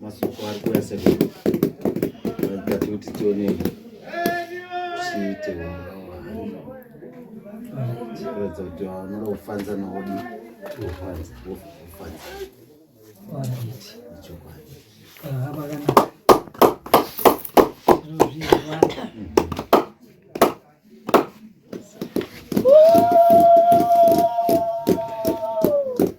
masoko ari kuuya sekuru ati kuti tione chiite chiratidza kuti vanoda kufanza naodi kufanza kufanza chokwadi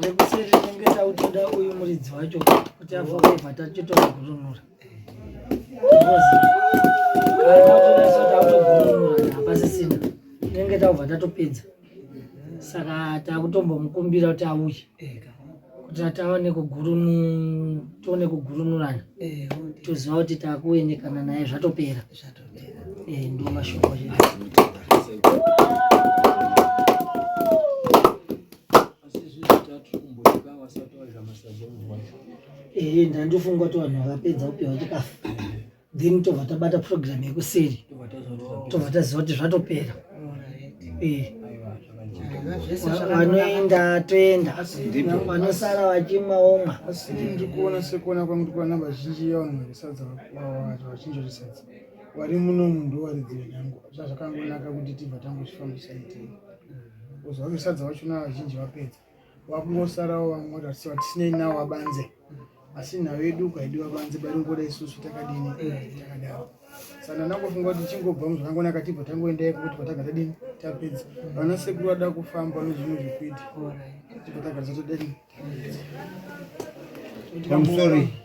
tengesa utoda uyu muridzi wacho kuti avovha tachitoda kurunura hapasisina tenge taubva tatopedza saka takutombomukumbira kuti auye kuti taone kugurunu tione kugurunurana eh, toziva kuti takuendekana naye zvatopera eh, ndo mashoko ehe ndandifunga kuti vanhu vakapedza kupiwa chikafu then tobva tabata program yekuseri tobva taziva kuti zvatopera eh. vanoenda toenda vanosara vachimwa omwa asi ndiri kuona sekuona kwangu tikuona vazhinji yevanhu varisadza vachinjorisadza vari muno munhu waridzi wenyangu zva zvakangonaka kuti tibva tangozvifambisa itei kozi vavesadza vachona vazhinji vapedza vakungosarawo vamwe vatarisira kuti sinei nawo vabanze asi nhau yedu ukaidi vabanze baringoda isusu takadini takadaro saka ndandangofunga kuti tichingobva muzvakangonaka tibva tangoenda iko kuti pataga tadini tapedza vana sekuru vada kufamba nezvimwe zvekuita tibva tagadza tadini I'm sorry.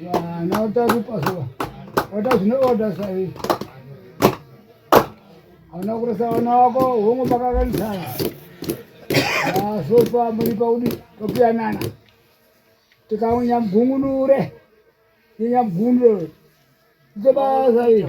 Now that you pass over. What does no order say? Anakurasa wana wako hongo makakanisa. Ah, so far muri paudi topiyanana. Tikaunya mgungunure. Tinya mgungunure. Ndibasa hiyo.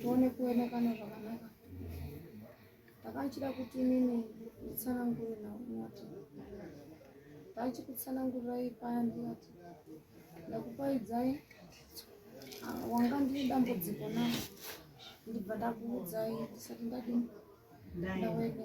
tione kuonekana zvakanaka ndakachida kuti inini nditsanangure naunati ndachikutsanangurirai paya ndiyati ndakupaidzai ah, wanga ndiri dambudziko na ndibva ndakuudzai ndisati ndadini ndaoneka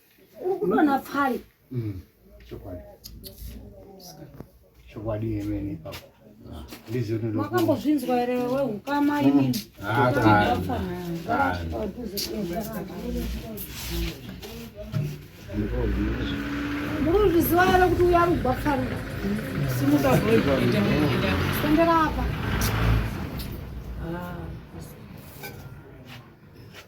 uri kudonha pfari mm, chokwadi chokwadi yemene ipapo makambozvinzwa here wehukama imini muruzviziva here kuti uya rugwa pfari simukaendera apa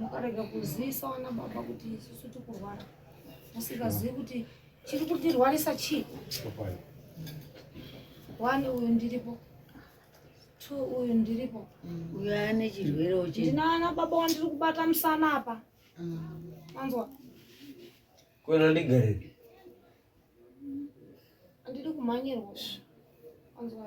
mukarega kuzivisa vana baba kuti isusu tikurwara musikazivi kuti chiri kutirwarisa chii one uyu ndiripo two uyu ndiripo uyu ane chirwere uchi ndinana baba wandiri kubata musana apa anzwa kwena ndigariri andidi kumhanyirwa anzwa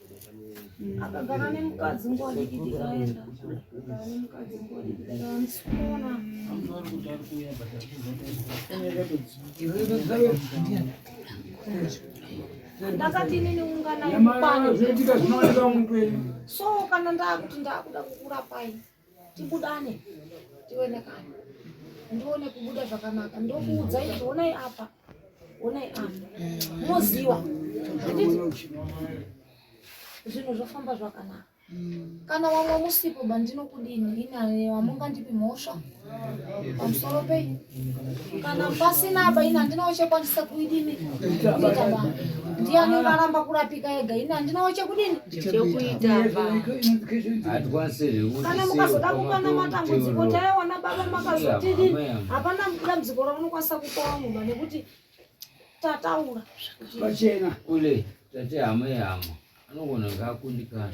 akagara nemukadzi nguva diki tikaenda agara nemukadzi nguva diki tikaenda ndisikuona ndakati inini unganayo so kana ndakuti ndakuda kukurapai tibudane tionekane ndione kubuda zvakanaka ndokuudza izvi onai apa onai apa moziva zvinhu zvofamba zvakanaka kana wamwe musipo bandinokudini inani wamungandipi mhosva pamusoro penyu kana pasina apa ini handinawo chekwanisa kuidini kuita ba ndiyani varamba kurapika ega ini handinawo chekudini chekuita kana mukazoda kukwana matambudziko taiona baba makazotidini hapana dambudziko raunokwanisa kukowa mumba nekuti tataura pachena ule tate hama yehama anogona ngaakundikana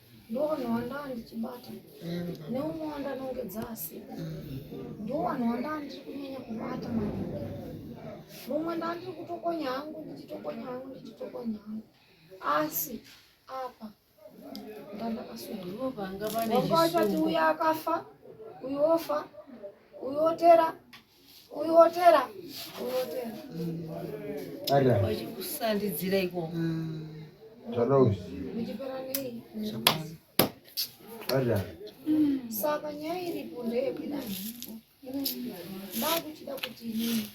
ndovanhu vandaa ndichibata mm-hmm. neumwe wandanongedza asipo mm-hmm. ndovanhu vandaa ndiri kunyanya kubata maningi mumwe ndaa ndiri kutokonya hangu ndichitokonya hangu ndichitokonya hangu asi apa ndandakasuvanga vanga vachati uyo akafa uyo ofa uyo otera Uyotera. Uyotera. Ara. Wachikusandidzira iko. Zvada uyu. Muchipera nei? Zvakwana. Ara. Saka nyaya iripo ndeyekuda. Ndakuchida kuti inini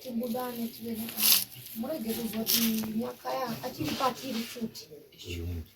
tibudane tive nekana. Murege kuzoti nyakaya achiri patiri futi.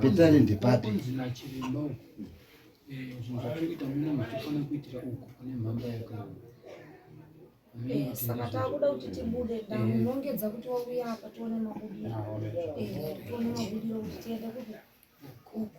Pidzani ndipapi? saka takuda kuti tibude ndamunongedza kuti wauya apa tione mabudiro tione mabudiro kuti tiende kupi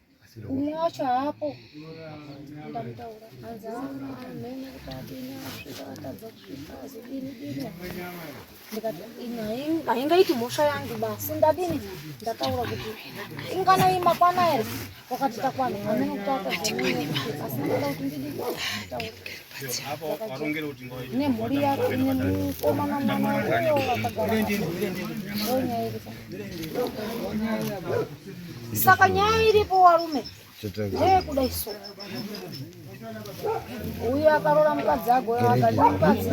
umwe wacho haapo ndamutaura hanzi amhene kuti adini asvika atadza kusvika azodini dini ndikati haingaiti mhosva yangu basi ndadini ndataura kuti inganai makwana here wakati takwana amene kuti atadza asi ndada kuti ndidini nemhuri yako nemukomana mwana saka nyaya iripo warume ndeyekuda iso uyo akarora mukadzi agoyo akati mukadzi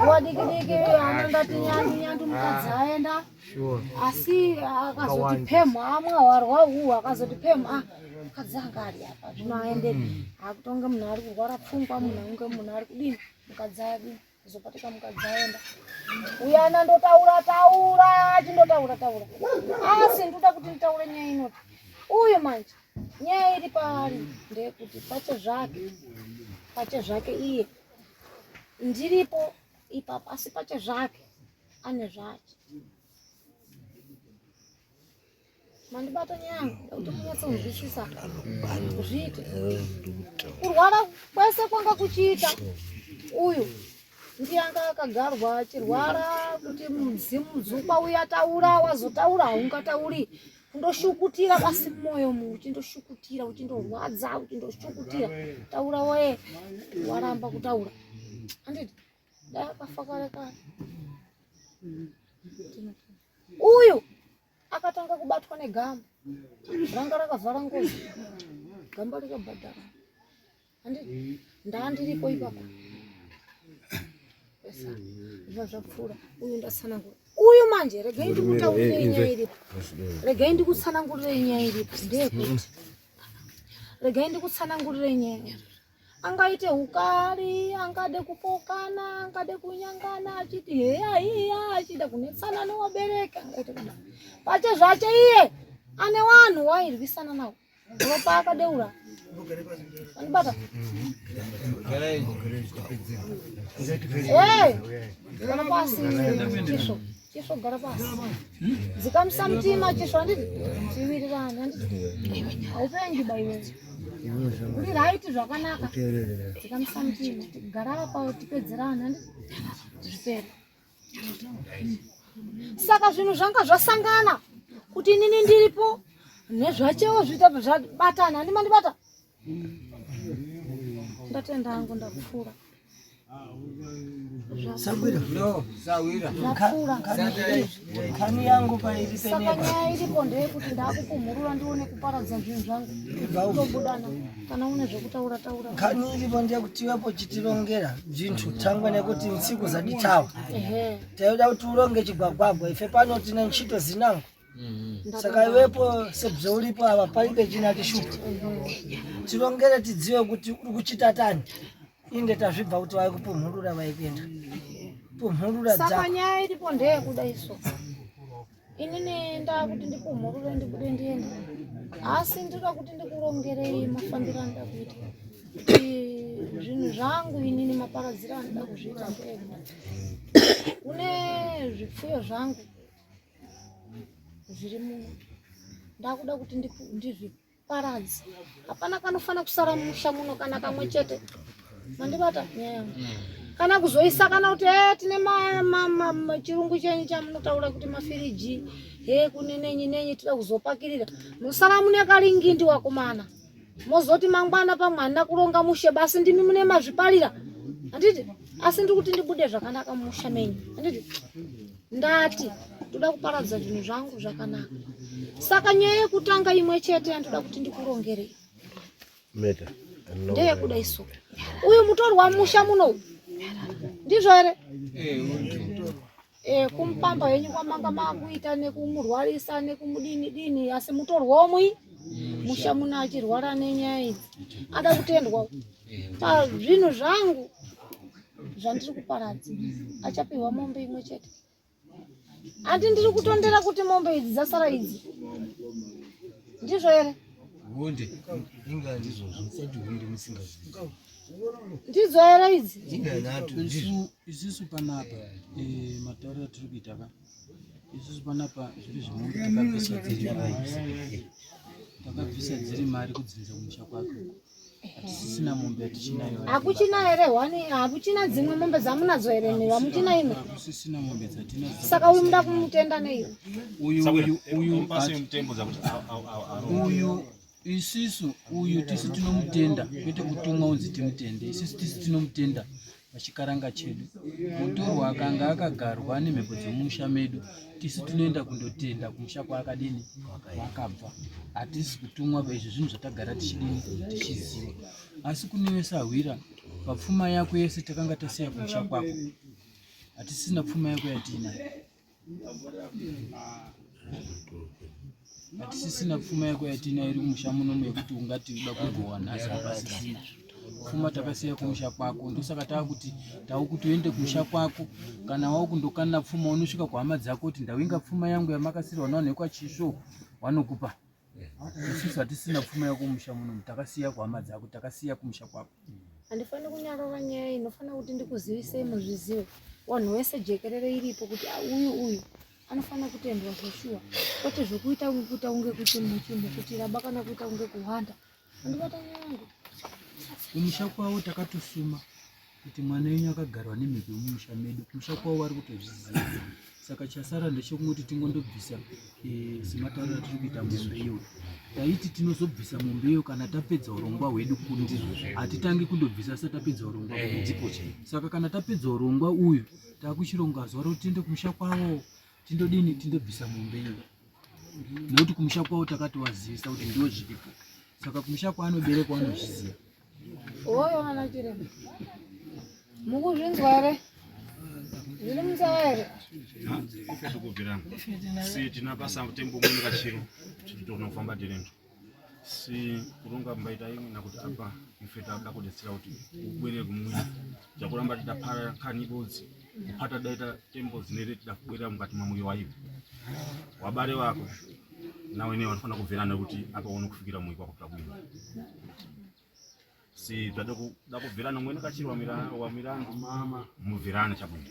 wadikidiki ana ndati nyandu nyandu mukadzi aenda Sure. Asi akazoti pemha amwa warwa uhu akazoti pemha ah, mukadzi anga ari apa zvino aende hmm. akutonge munhu ari kurwara pfungwa munhu ange munhu ari kudini mukadzi adi azopatika mukadzi aenda uyana ndotaura taura chindotaura taura asi ndoda kuti nditaure nyaya inoti uyu manje nyaya iri paari ndeyekuti pache zvake pache zvake iye ndiripo ipapa asi pache zvake ane zvake mandibata nyaya kuti munyatso kunzwisisa zviite kurwara kwese kwanga kuchiita uyu ndiyanga akagarwa achirwara kuti mudzimu dzukwa uya taura wazotaura haungatauri kundoshukutira basi mumwoyo mu uchindoshukutira uchindorwadza uchindoshukutira taura woye waramba kutaura anditi uyu akatanga kubatwa negamba ranga rakavhara ngozi gamba rikabhadhara ndaandiripo ipapo zva zvapfuura uyu ndatsanangura uyu manje regai ndikutaurire nyaya iripo regai ndikutsanangurire nyaya iripo ndeyekuti regai ndikutsanangurire nyaya angaite ukari angade kupokana angade kunyangana achiti heya iya achida kunetsana nowabereka angaite kuda pache zvache iye ane vanhu wairwisana nawo ropa akadeura anibata kana pasi chisvo Chisvo gara pasi. Dzikamisa mutima chisvo handiti tiwirirane handiti. Haupengi baiwe. Uri right zvakanaka. Dzikamisa mutima gara apa tipedzerane handiti. Zvipere. Saka zvinhu zvanga zvasangana kuti inini ndiripo nezvachewo zvita zvabatana handimandibata. ndatenda hangu ndakufura kani yangu pairisenaka nyaya iripo ndeyekuti ndakukumhurura ndione kuparadza zvinhu zvangu tobudana kana une zvekutaura taura kani iripo ndeyekuti iwepo chitirongera zvinhu tangwe nekuti nsiku zaditawa taida kuti uronge chigwagwagwa ife pano tine nchito zinangu saka iwepo sebze uripo ava paibe china chishupa tirongere tidzive kuti uri kuchitatani inge tazvibva kuti vai kupumhurura vai kuenda pumhurura saka nyaya iripo ndeyekuda iso inini ndakuti ndipumhurure ndibude ndienda asi ndinoda kuti ndikurongerei mafambiro anoda kuita zvinhu zvangu inini maparadziro anoda kuzviita ndega kune zvipfuyo zvangu zviri muno ndakuda kuti ndizviparadze hapana kanofanira kusara musha muno kana kamwe chete mandibata nyaya kana kuzoisa kana kuti e tine chirungu chenyu chamunotaura kuti mafiriji he kune nenyi nenyi tida kuzopakirira musara mune karingindi wakomana mozoti mangwana pamwana kuronga mushe basi ndimi mune mazviparira handiti asi ndiri kuti ndibude zvakanaka mumusha menyu handiti ndati ndoda kuparadza zvinhu zvangu zvakanaka saka nyaya yekutanga imwe chete yandoda kuti ndikurongerei ndeyekuda isu uyu mutorwa musha muno ndizvo here eh, Eh, kumupamba henyu kwamanga makuita nekumurwarisa nekumudini dini asi mutorwomwi musha muno achirwara nenyaya idzi ada kutendwa pazvinhu zvangu zvandiri kuparadza achapihwa mombe imwe chete handi ndiri kutondera kuti mombe idzi dzasara idzi ndizvo here hunde inga ndizvozvo sati hunde musingazivi ndidzo era idzi isusu panapa eh, matauro atiri kuita ka isusu panapa zviri zvimwe takabvisa dziri mari takabvisa dziri mari kudzinza kumusha kwake hatisisina mombe yatichinayo hakuchina here wani hakuchina dzimwe mombe dzamunadzo here mhiri hamuchina imwe hakusisina mombe dzatinadzo saka uyu muda kumutenda nei uyu uyu uyu isisu uyu tisu tinomutenda kwete kutumwa unzi timutende isisu tisu tinomutenda pachikaranga chedu mutorwa akanga akagarwa nemhepo dzemumusha medu tisu tinoenda kundotenda kumusha kwaakadini kwakabva hatisi kutumwa izvi zvinhu zvatagara tichidini tichiziva asi kune vesahwira papfuma yako yese takanga tasiya kumusha kwako hatisina pfuma yako yatiinayo hatisisina pfuma yako yatina iri musha munomu yekuti ungati uda kugowa nhasi hapasisina pfuma takasiya kumusha kwako ndosaka tava kuti tava kuti uende kumusha kwako kana wava kundokanira pfuma unosvika kuhama dzako kuti ndawinga pfuma yangu yamakasirwa nawo nekwachiso wanokupa Sisi hatisina pfuma yekumusha muno, takasiya kuhama dzako, takasiya kumusha kwako. Handifani kunyarova nyaya inofana kuti ndikuzivisei muzvizive wanhu wese jekerere iripo kuti ah, uyu uyu anofana kutendwa zveshuwa kwete zvokuita kuita kunge kuti muchimukutira bakana kuita kunge kuhwanda kumusha kwavo takatosuma kuti mwana wenyu akagarwa nemhepo yemumusha medu kumusha kwavo vari kutozviziva saka chasara ndechekungoti tingondobvisa eh, sematauriro atiri kuita mombe iyo taiti tinozobvisa mombe iyo kana tapedza urongwa hwedu kundi hatitangi kundobvisa sa tapedza urongwa eh, saka kana tapedza urongwa uyu takuchironga zuva roti tiende kumusha kwavo Tindodini tindobvisa mombe iyo. Nekuti kumusha kwao takati wazivisa kuti ndiwo zviripo. Saka kumusha kwaanoberekwa anozviziva. Oyo ana chiremba. Mukuzvinzwa here? Zviri musawa here? Ife tikubvirana. Si tinapasa tembo mumwe kachiro. Tinofanira kufamba tirendo. si kurunga mbaita imwe na kuti apa ife tava kuti tsira kuti ubwere kumwiri chakuramba tita para kani bodzi kupata daita tembo dzine reti da kubwera mukati mwa moyo waivo wabare wako nawe ne wanofana kubverana kuti apa uno kufikira moyo wako tabwira si tadoko da kubverana mwe nakachirwa mira wa mirandu mama mubverana chabwira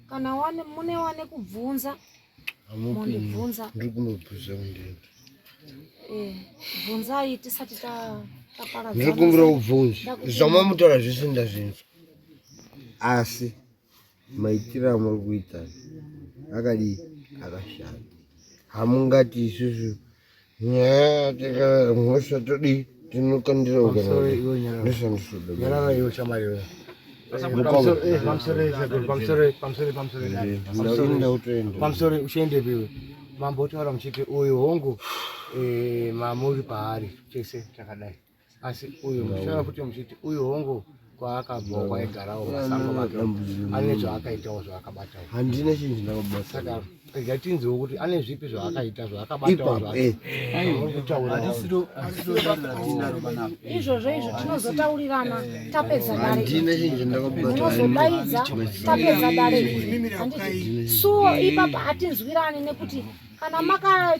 kana wane mune wane kubvunza mundibvunza ndiri kunobvunza kundini eh, bvunzai tisati taparadzana ndiri kumbira kubvunza zvamamutaura zvese ndazvinzwa asi maitiro amuri kuita akadii akashata hamungati isusu nyaya tikamhosva todii tinokandira ukanaaishandisodanyarara iwe shamari iwe pamusori uchiendepi iwe mambo otaura muchiti uyu hongu mamuri paari chese chakadai asi uyu muchitaura futi muchiti uyu hongu kwaakabvawo kwaigarawo masango make ane zvaakaitawo zvaakabatawo handina chinhu chinakabata saka rega tinziwo kuti ane zvipi zvaakaita zvaakabataoizvozvo eh. izvo tinozotaurirana tapedza dareozobaidza tapedza dare suo ipapa hatinzwirani nekuti kana maka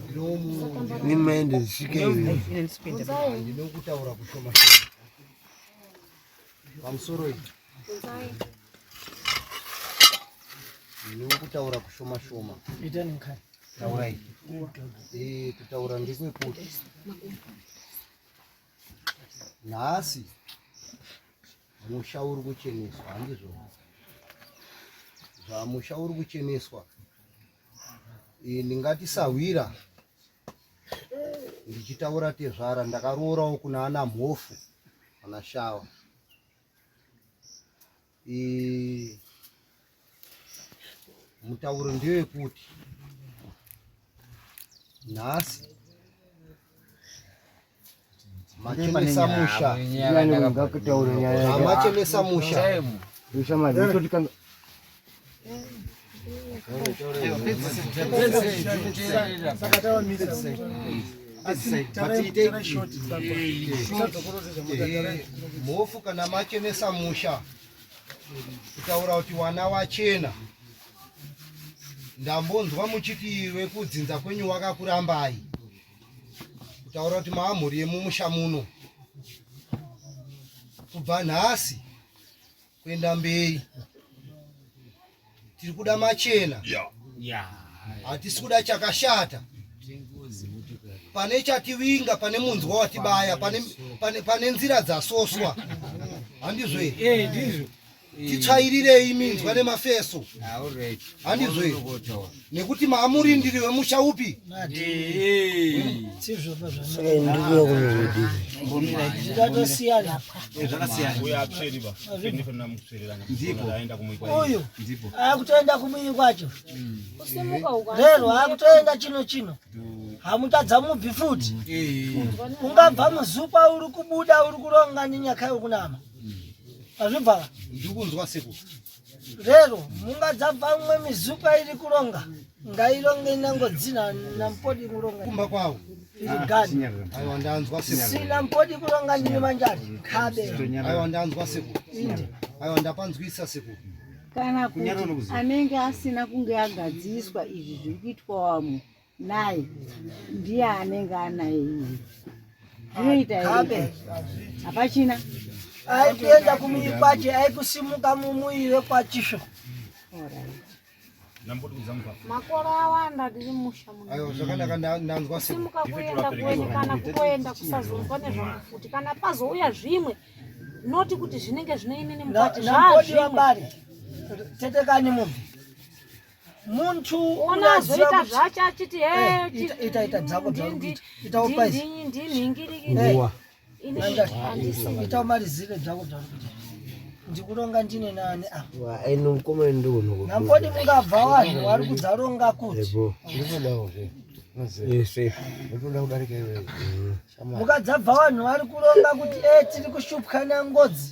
nimaende zvisvike ndinokutaura kushoma pamusoro iyi ndinokutaura kushoma shoma taurai eh, kutaura ndekwekuti nhasi musha uri kucheneswa handizvo zvamusha uri kucheneswa eh, ndingati sahwira ndichitaura tezvara ndakaroorawo kuna ana mhofu ana shawa eh, mutauro ndiyo yekuti nhasi Machenesa musha. Ngakutaure nyaya. Machenesa musha. Musha madito tikanga mhofu kana machenesa musha kutaura kuti wana wachena ndambonzwa muchiti wekudzinza kwenyu wakakurambai kutaura kuti maamhuri yemumusha muno kubva nhasi kuenda mberi tiri kuda machena hatisi kuda chakashata pane chativinga pane munzwa watibaya pane nzira dzasoswa handizvo here eh, titsvairirei minzwa nemafeso handizve nekuti maamurindiri wemusha upi uyu akutoenda kumuyi kwacho rero akutoenda chino chino hamutadza mubvi futi ungabva muzupa uri kubuda uri kuronga nenyaka yokunama Azvibva. Ndikunzwa siku. Rero munga dzabva umwe mizupa iri kuronga ngaironge inango dzina nampodi kuronga. Kumba kwawo. Gani. Aiwa ndanzwa siku. Sina mpodi kuronga ndine manjari. Kabe. Aiwa ndanzwa siku. Inde. Aiwa ndapanzwisa siku. Kana kuti anenge asina kunge agadziswa izvi zviri kuitwa wamwe. Naye ndiye anenge anaye iye. Zvinoita here? Hapachina. Aikuenda kumiri kwacho aikusimuka mumuire kwachisvo. Makore awanda ndiri musha muno. Ayo zvakanaka ndanzwa simuka kuenda kuweni kana kutoenda kusazonzwa nezvangu futi kana pazouya zvimwe noti kuti zvinenge zvine inini mukati zvazvimwe. Tetekani mubvi. muntu unoziva zvacho achiti ita ita dzako dzakuita ita upaisi ndinhingirikira ita umarizire dzako dzakuita ndikuronga ndine nani apnamkoti mungabva vanhu vari kudzaronga kuti mukadzabva vanhu vari kuronga kuti e tiri kushupwa nangodzi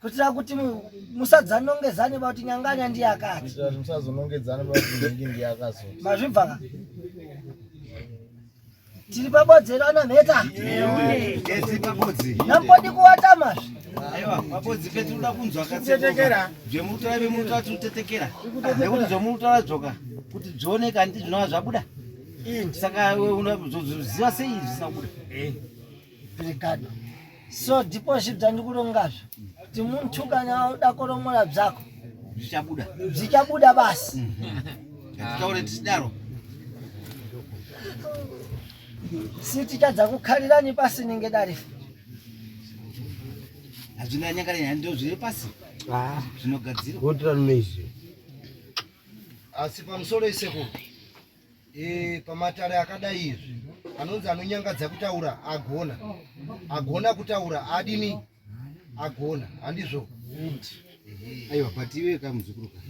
kuitira kuti musadzanongedzane pa kuti nyanganya ndiye akati musazonongedzane pa kuti nhingi ndiye akazoti mazvibva ka tiri pabodzero ana mheta nampodi kuwata mazvi zvekuti zvomurutaura dzoka kuti dzioneka ndizvinova zvabuda saka unoziva sei zvisina kubuda Brigado. So ndipo zvibzani kulongazvo. Kuti muntu kana uda koromora bzako. Zvichabuda. Zvichabuda basi. Mhm. Titaure tisidaro. Siti chadza kukhalirani pasi ninge dare. Hazvina nyakare nyaya ndio zviri pasi. Ah, zvinogadzirwa. Wotirano neizvi. Asi pamusoro iseko. e, pamatare akadai izvi anonzi anonyangadza kutaura agona agona kutaura adini agona handizvo aiwa but iwe ka muzukuru ka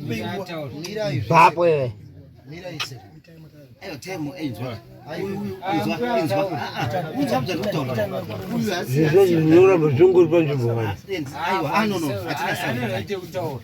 mira izvi bapo iwe mira izvi ayo time enjwa zvinoramba zvingori panzvimbo vani aiwa anono ah, atina sani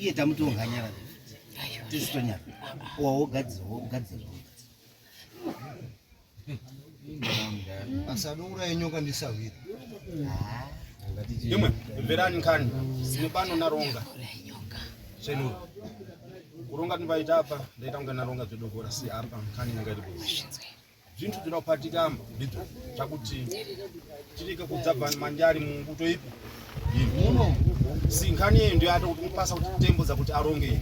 iye tamuti unganyara tisitonyara wawogadzira wogadzira asadouraya nyoka ndisahwira imwe mverani nkani zine pano naronga chenuru kuronga ndinovaita apa ndaita kunge naronga zvedogora si apa nkani nanga iri kuzi zvintu dzinopatikamba ndidzo zvakuti tirike kudzabva manjari mumbuto ipi muno sinkhani yeyo ndiyo ata kuti mupasa kuti tembo dzakuti aronge iyi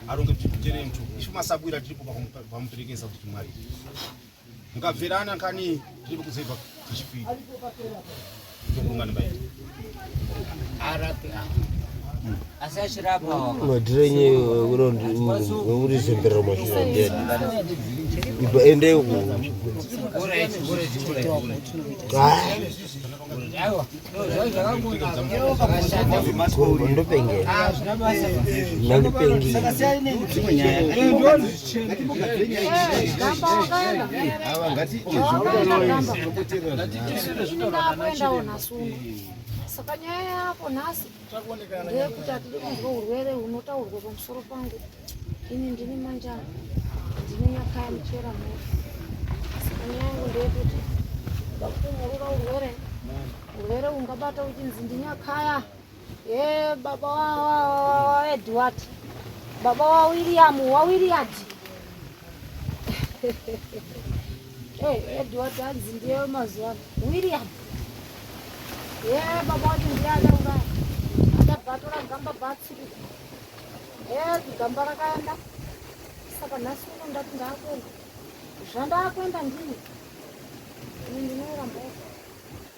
aronge titere mtu isu masabwira tiripo pamuperekesa kuti mwari mukabverana nkhani tiripo kuzoibva tichipiri madhirenye wekuti zembera mashura ndiyani ibva ende uku ndopengera ndopengera kuendawo nhasi uno saka nyaya yako nhasi ndeyekuti hatidi kunzwa urwere hunotaurwa pamusoro pangu ini ndini manjana ndine nyaka yamuchera mhuri saka nyaya yangu ndeyekuti vakutonyarura urwere urwere ungabata uchinzi ndinyakaya Hey, baba wa Edward. Baba wa William, wa William. hey, Edward hanzi ndiye mazuva. William. Yeah, baba wacho ndiye akaura. Akabatora gamba batsi. Yeah, gamba rakaenda. Saka nhasi uno ndati ndakuenda. Zvandakuenda ndini. Ndinorambawo.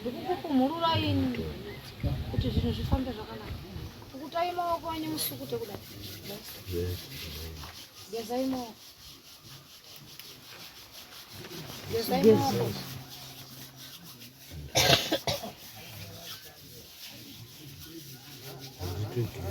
ndikukupumhurura ini kuti zvinhu zvifambe zvakanaka pukutai maoko enyu musukute kudai gezai maoko gezai maoko Thank you.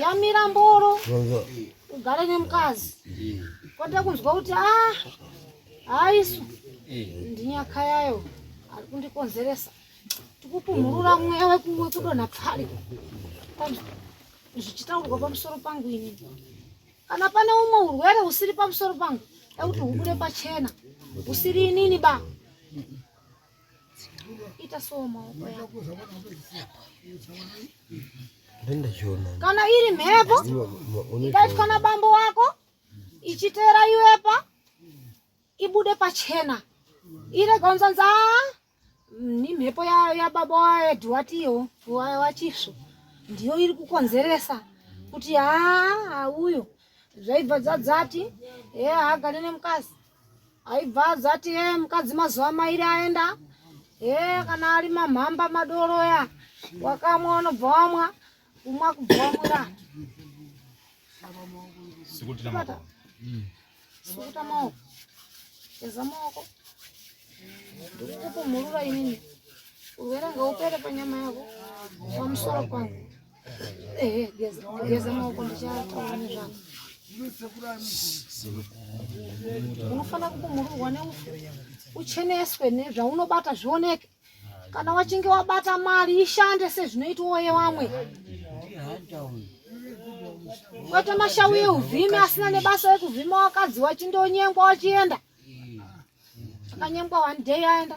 yamira mboro ugare nemukazi kwete kunzwa kuti a ah, haisu ndinyaka yayo ari kundikonzeresa tikupumhurura mweya wekudonha pfari zvichitaurwa pamusoro pangu ini kana pane umwe urwere usiri pamusoro pangu ekuti hubude pachena usiri inini ba Ita so maoko yako. Nenda jiona. Kana iri mhepo ikaitwa na bambo wako ichitera iwepa ibude pachena ire gonza nza ni mhepo ya, ya baba waedu watiyo wachisvo ndiyo iri kukonzeresa kuti haa uyo zvaibva dzadzati hee haagare nemukazi aibva adzati ye eh, mukadzi mazuva mairi aenda he eh, kana ari mamhamba madoro ya wakamwa unobva wamwa kumwa kubva wamwira sukuta maoko eza maoko ndikukupumhurura inini urwere ngaupere panyama yako pamusoro pangu unofanira kukumururwa neufu ucheneswe nezvaunobata zvioneke kana wachinge wabata mari ishande sezvinoitwa yevamwe kwete mashawi euvhimi asina nebasa rekuvhima wakadzi wachindonyengwa wachienda akanyengwa one day aenda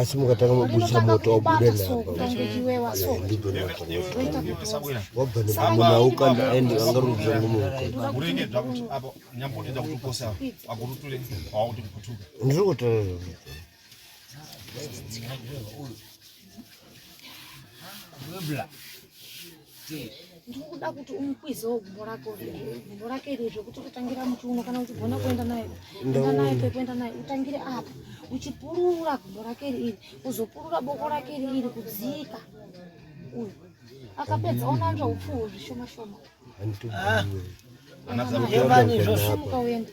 asi mukatanga mabudisa moto wabuda napawabanaaukanda aende vangarudza ngomuukandiri kutarira Good luck. ndikuda kuti umukwizewo gumbo rako gumbo rake iri zvekuti utotangira muchiuno kana uchigona kuenda naye enda naye pekuenda naye utangire apa uchipurura gumbo rake iri iri uzopurura boko rake iri iri kudzika uyu akapedza onanzva upfuwo zvishoma shoma ah, uende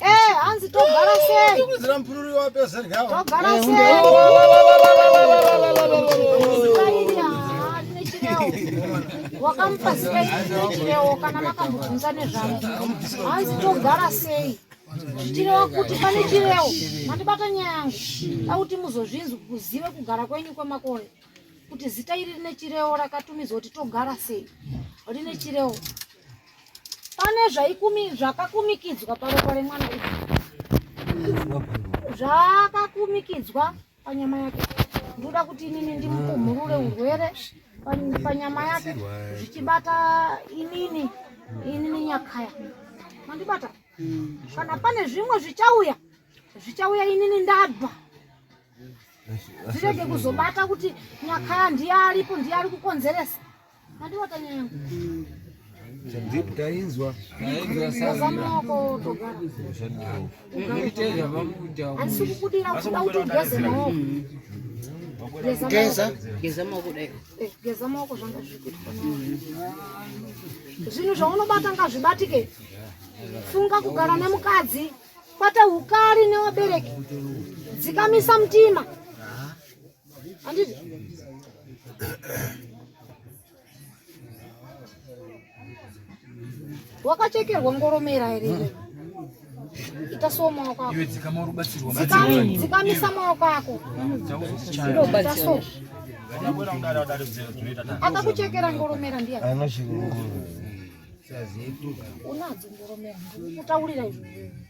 Eh, hanzi togara sei? Tikudzira mpururi wapedza rya. Togara eh, sei? Wakamupa zita ichirewo kana makambobvunza nezvavo. Hanzi togara sei? Chirewo kuti pane chirewo mandibata nyaya yangu. Akuti muzozvinzwa kuzive kugara kwenyu kwemakore. Kuti zita iri rine chirewo rakatumidzwa kuti togara sei? Rine chirewo. pane zvaikumi zvakakumikidzwa paropa remwana uyu zvakakumikidzwa panyama yake ndoda kuti inini ndimupumhurure urwere panyama yake zvichibata inini inini nyakaya mandibata kana pane zvimwe zvichauya zvichauya inini ndabva zvirege kuzobata kuti nyakaya ndiye aripo ndiye ari kukonzeresa tainzwa geza geza maoko dai eh, geza maoko zvanga zvikuitwa zvinhu zvaunobata ngazvibatike funga kugara nemukadzi kwata ukari newabereki dzikamisa mutima Anditi. Wakachekerwa ngoromera here iwe? Ita so maoko ako. Iwe dzikama uri kubatsirwa. Dzikama, dzikamisa maoko ako. Ita so. Akakuchekera ngoromera ndiye. Anochekera ngoromera. Unadzo ngoromera. Kutaurira izvi.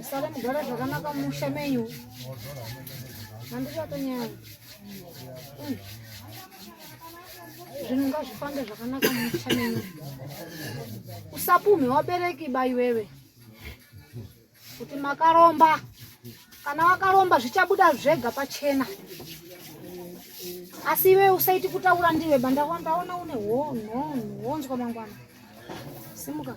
Usare mugara zvakanaka musha menyu. Handichatonyanya. Mm. Zvinhu ngazvifambe zvakanaka musha menyu. Usapume wabereki ba iwewe. Kuti makaromba. Kana wakaromba zvichabuda zvega pachena. Asi iwe usaiti kutaura ndiwe bandaona une honzwa mangwana. Simuka.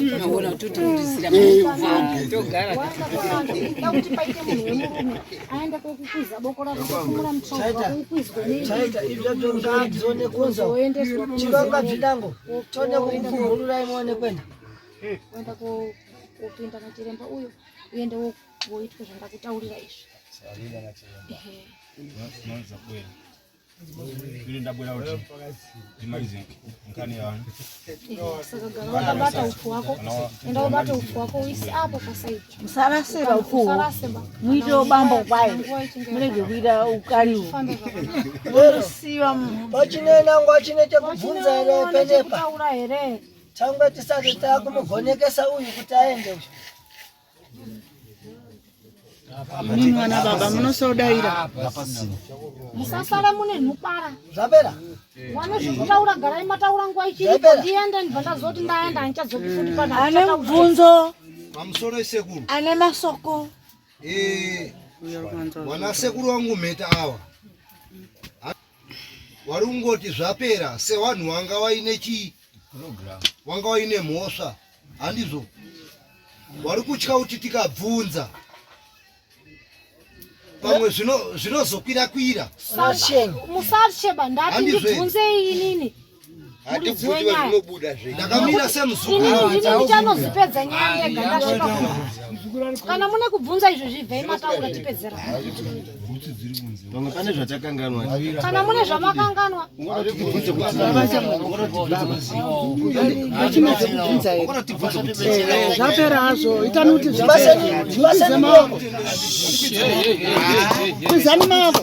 unogona kutotiurisira togara kuti paite munhu wemurume aenda kokukuza boko rako kokumura mutrauzakukwizwechirongwa bzinango tode kukuhurura imone kwenda kuenda kopinda nachiremba uyo uende woitwa zvandakutaurira izvi Ili ndabwera kuti ndimalize nkani yanu. Sakagara ufu wako. Enda ubate ufu wako uisi apo pasaidi. Musaraseba ufu. Musaraseba. Muite ubambo kwaye. Mulege kuita ukali ufu. Usiwa mu. Wachinena ngwachine chekubvunza here penepa. Taura here. Tangwe tisati takumuvhonekesa uyu kuti aende uyu. Mimi mwana baba munosodaira. Musasara mune nhupara. Zvapera. Wana zvekutaura garai mataura nguwa ichiripo ndiende ndibva ndazoti ndaenda handichadzoki futi pana. Ane mubvunzo. Pamusoro isekuru. Ane masoko. Eh. Wana sekuru wangu mheta awa. wari kungoti zvapera sewanhu wanga waine chii wanga waine mhosva handizvo wari kutya kuti tikabvunza pamwe zvinozokwira kwira musarsheba ndati ndibvunzei inini ndikanozipedza nyaya yega ndasvika kana mune kubvunza izvo zvibvei mataura tipedzera pamwe pane zvatakanganwa kana mune zvamakanganwa zvapera hazvo itani kuti zvapeazani maoko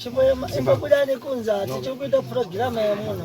chimwe imba kuda nekunza tichikuita purogiramu yemuno